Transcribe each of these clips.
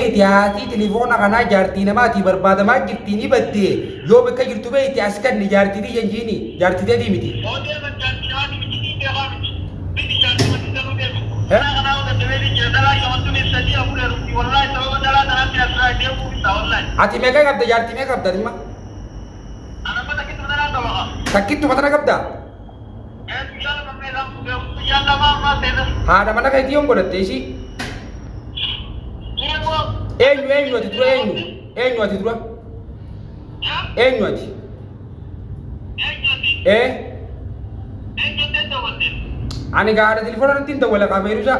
Iti haatii tilifoona kanaa jaartii namaatii barbaadamaa jirtii ni baddee yoo bakka jirtu beekte as kanni jaartii tiyya hin jiini jaartii teetii miti. Ati meeqa qabda jaartii meeqa qabda ati amma? Takkittuma tana qabdaa? Haadha mana keetii yoon godhatte ishii. Eenyu eenyu ati dura eenyu? Eenyu ati dura? Eenyu ati? Ee? Ani gaara telefoona irratti hin dawwala qaabeeruusaa.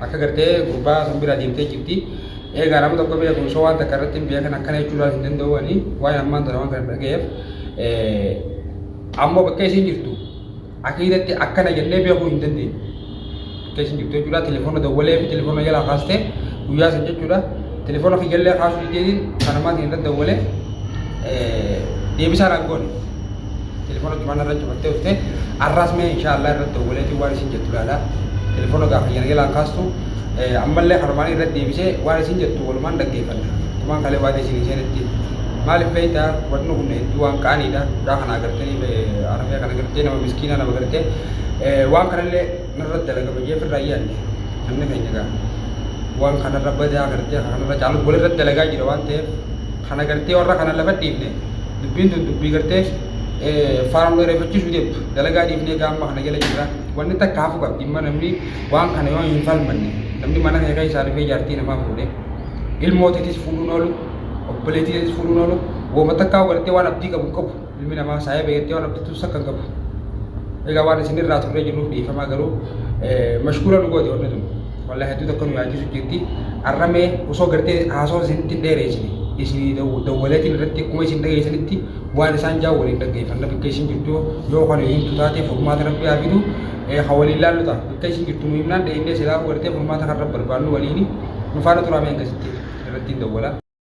Akka gartee gurbaa sun bira deemtee jirti. Eegaa nama tokko beeku osoo waan takka irratti hin beekan akkana jechuu laal hin danda'u ani waan ammaan tana waan kana dhagayeef ammoo bakka isiin jirtu akiidatti akkana jennee beekuu hin dandeenye. Bakka isiin jirtu jechuudha telefoona dawwalee fi telefoona jalaa kaastee guyyaa san jechuudha telefoona kiyyalee kaasuu dideetiin kanamaatiin irratti dawwalee deebisaa naan goone. Telefoona duraan irra cufattee dhufte arraas mee inshaa Allah irratti dawwaleetiin waan isin jettu laala. Telefoona gaafa jalgalaan kaastu ammallee kanumaan irra deebisee waan isin jettu walumaan dhaggeeffanna. Kumaan kalee waadee isin hin seenetti. Maaliif beektaa wanni kun hedduu waan qaaniidha. Mucaa kana agartee arafee kana agartee nama miskiinaa nama agartee waan kanallee narra dalagama jee firraa yaadne namni keenya gaa waan kanarra badaa agartee kanarra caalu walirra dalagaa jira waan ta'eef Kana gartee warra kana lafa dhiifne dubbiin tun dubbii gartee faana nu dheereeffachiisuu deemtu dalagaa dhiifnee gaamma kana jala jirra wanni takka hafu qabdi imma namni waan kana yoo hin falmanne namni mana kee keessaa dhufee jaartii namaa fuudhe ilmoo teetis fuudhuun oolu obboleetii teetis fuudhuun oolu wooma takkaa gartee waan abdii qabu hin qabu Ilmi namaa saayee beektee waan abdattu sakka hin qabu. Egaa waan isin irraa turree jirruuf dhiifamaa garuu mashkuura nu goote wanni tun. Wallah hedduu tokko nu yaachisu jirti. Arramee osoo gartee haasawaa isinitti hin dheereessine isin dawwaleetiin irratti akkuma isin dhageessanitti waan isaan jaa waliin dhaggeeffanna bakka isin jirtu yoo kan himtu taate furmaata rabbi haa fidu ha waliin laallu ta'a bakka isin jirtu nu himnaan dheeynee silaa gartee furmaata kan rabbi barbaannu waliini nu faana turaa mee akkasitti irratti hin dawwala.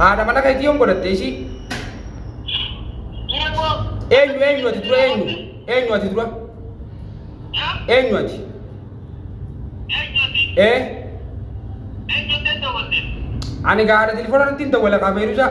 Haadha mana keetii yoon godhatte ishii. Eenyu eenyu ati dura eenyu? Eenyu ati dura? Eenyu ati? Ee? Ani gaa haadha telefoona irratti hin dawwala kaa Feeruusaa.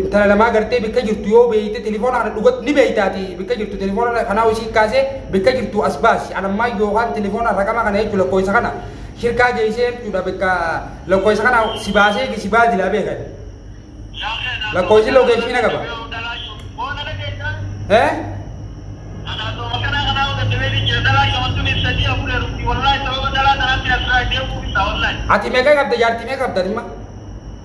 intala namaa gartee bikka jirtu yoo beeyte telefoona kana dhugat ni beeytaati bikka jirtu telefoona kanaa ishii kaasee bikka jirtu as baasi anammaa yookaan telefoona raqama kana jechuun lakkoofsa kana shirkaa geessee jechuudha bikka lakkoofsa kana si baasee si baadilaa beekan lakkoofsi lokeeshii na qaba. Eh? Ati meeqa qabda jaartii meeqa qabda dhimma?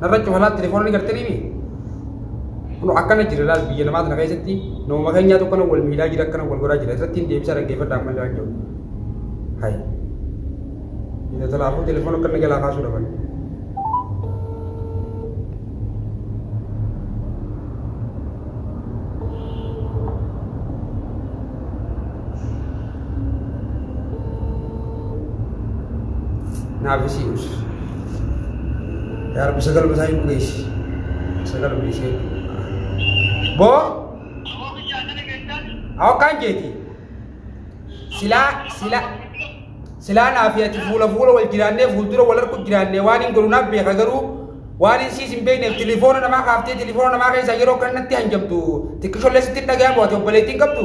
Narra cufalaa telefoona ni gartanii mi? Kun akkana jira laal biyya namaa tana keessatti nama keenyaa tokko na wal miidhaa jira akkana wal godhaa jira irratti hin deebisaa dhaggeeffadha amma illee waan jiru. Hayi. Biyya talaafuu telefoona akka inni jalaa kaasuu dhaban. Naaf isii us. Yaa Rabbi sagal basaa hin geessi. Sagal geessee. Boo hawakkaan jeeti. Silaa silaa silaa naaf ati fuula fuula wal jiraannee fuuldura wal argu jiraannee waan hin godhu naaf beeka garuu waan hin siis hin beekneef tilifoona namaa kaaftee tilifoona namaa keessaa yeroo kanatti hanjamtu xiqqishollee sitti hin dhaga'amu ati obboleettiin qabdu.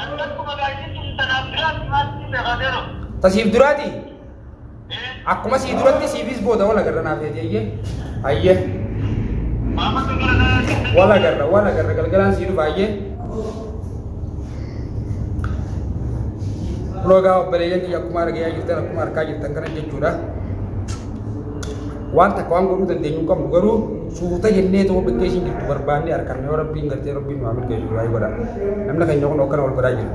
Ani akkuma gaayyitti si tanaaf duraatti maal si seeqaa seeroo? Ta siif duraati? Ee, Akkuma sii duratti siifis booda wal agarra naaf eegi eeyyee. Hayyee. maama kan gara kanaa keessatti- Wal agarra wal agarra galgalaan sii dhufa hayyee. Loogaa obboleeyyan kiyya akkuma argaa jirtan akkuma argaa jirtan kana jechuudha. waan takka waan godhuu dandeenyu hin qabnu garuu suuta jennee tokko gaggeessin jirtu barbaannee arkanne yoo rabbiin gartee rabbiin nu haa milkeessu du'aa godha namni keenya kun akkana wal godhaa jiru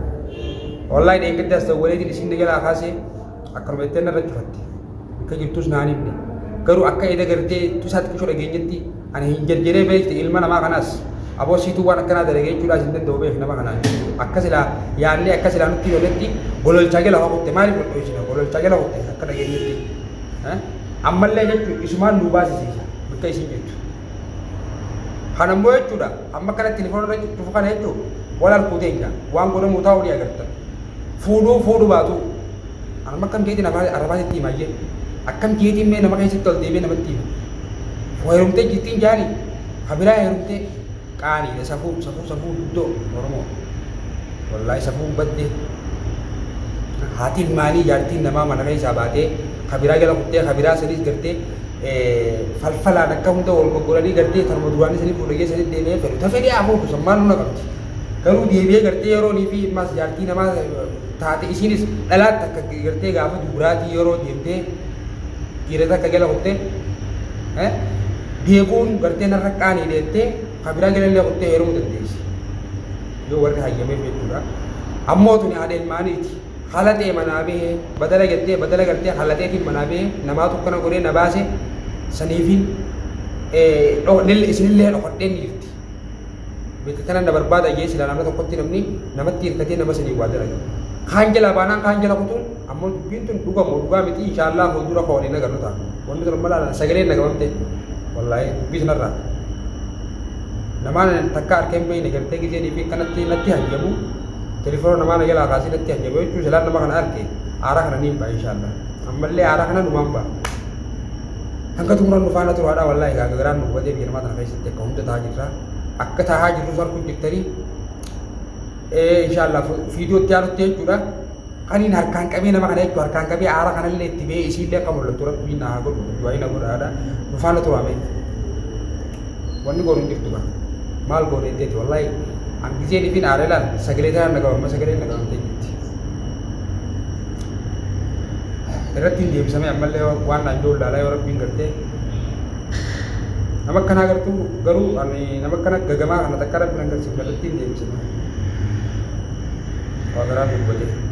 wallahi dheengaddaas ta'u waliitiin isin jalaa kaasee akkanuma jettee narra cufatte akka jirtus naan himne garuu akka eda gartee tusaa xiqqishoo dhageenyetti ani hin jarjaree beekte ilma namaa kanaas aboo siituu waan akkanaa dalagee jechuudhaas hin danda'u beeku nama kanaan akka silaa yaannee akka silaa nutti yooletti gololchaa jala hokutte maaliif hodhuu isin gololchaa jala hokutte akka dhageenyetti ammallee jechuun isumaan nuu baasisiisa bakka isin jirtu. Kana immoo jechuudha amma kanatti telefoonarra cufu kana jechuun wal harkuu teenya waan godhamuu taa'uu ni agartan. Fuudhuu fuudhu baatu amma akkam jeetiin arrabaasitti himaa jedhu akkam jeetiin mee nama keessatti ol deemee namatti himu. Heerumtee jirtiin jaani kabiraa heerumtee Qaaniidha safuu safuu safuu guddoo oromoo wallaay safuun badde haati ilmaanii jaartiin namaa mana keessaa baatee kabiraa jala kuttee kabiraa saniis gartee falfalaan akka hunda wal goggolanii gartee tarma duraanii sanii fuudhee geessanii deemee fedhu ta fedhee afuufu san maal nuna qabdi garuu deebi'ee gartee yeroonii fi ilmaas jaartii namaa taate isiinis dhalaatti akka gartee gaafa dubraatii yeroo deemtee dhiira takka jala kuttee beekuun garteen har'a qaanii deettee ka biraa jalallee kuttee heerumuu dandeessi. Yoo warri hayyameef jechuudha. Ammoo tuni haadha ilmaaniiti. Halaxee manaa bahee badala jettee badala gartee halaxeetiin manaa bahee namaa tokkana godhee na baase saniifi isinillee dhokadhee ni jirti. Beekta tanan na barbaada jee silaa naannoo tokkotti namni namatti hirkatee nama sanii waa dalaga. Kaan jalaa baanaan kaan jala kutuun ammoo dubbiin tun dhuga moo dhugaa miti inshaallah fuuldura koo waliin agarru ta'a. Wanni tun amma laalan sagaleen na gabamte wallaahii dubbii sanarraa. Namaan takka harkeen beeyne gartee gizee dhiibii kanatti natti hajjabu telefoona namaa na jalaa kaasee natti hajjabu jechuun silaan nama kana arke aaraa kana niin ba'a inshaallah. Ammallee aaraa kana numaan ba'a. Hanga xumuran dhufaana turaadhaa wallaahii gaagagaraan nu hubatee biyya namaa tana keessa. yakka hunda tahaa jirra akka tahaa jirrus arguu jirtanii inshallah fiidiyoo itti aanutti jechuudha kaniin harkaan qabee nama kana jechuudha harkaan qabee aara kanallee itti ba'ee isiillee akka mul'attu rabbiin naa godhu du'aayi na godhaadha nufaana turaame wanni goonu hin jirtu kana maal goone jeeti wallahi an giseen ifin aara ilaal sagalee tanaan na qabamma sagalee na qabamte jirti irratti hin deebisamee ammallee waan naan joollaalaa yoo rabbiin gartee Nama akkanaa gartuu garuu ani nama akkana gagamaa kana takka rabbi nan galchiif kallattiin deemsifna. Waa garaa fi hubatee.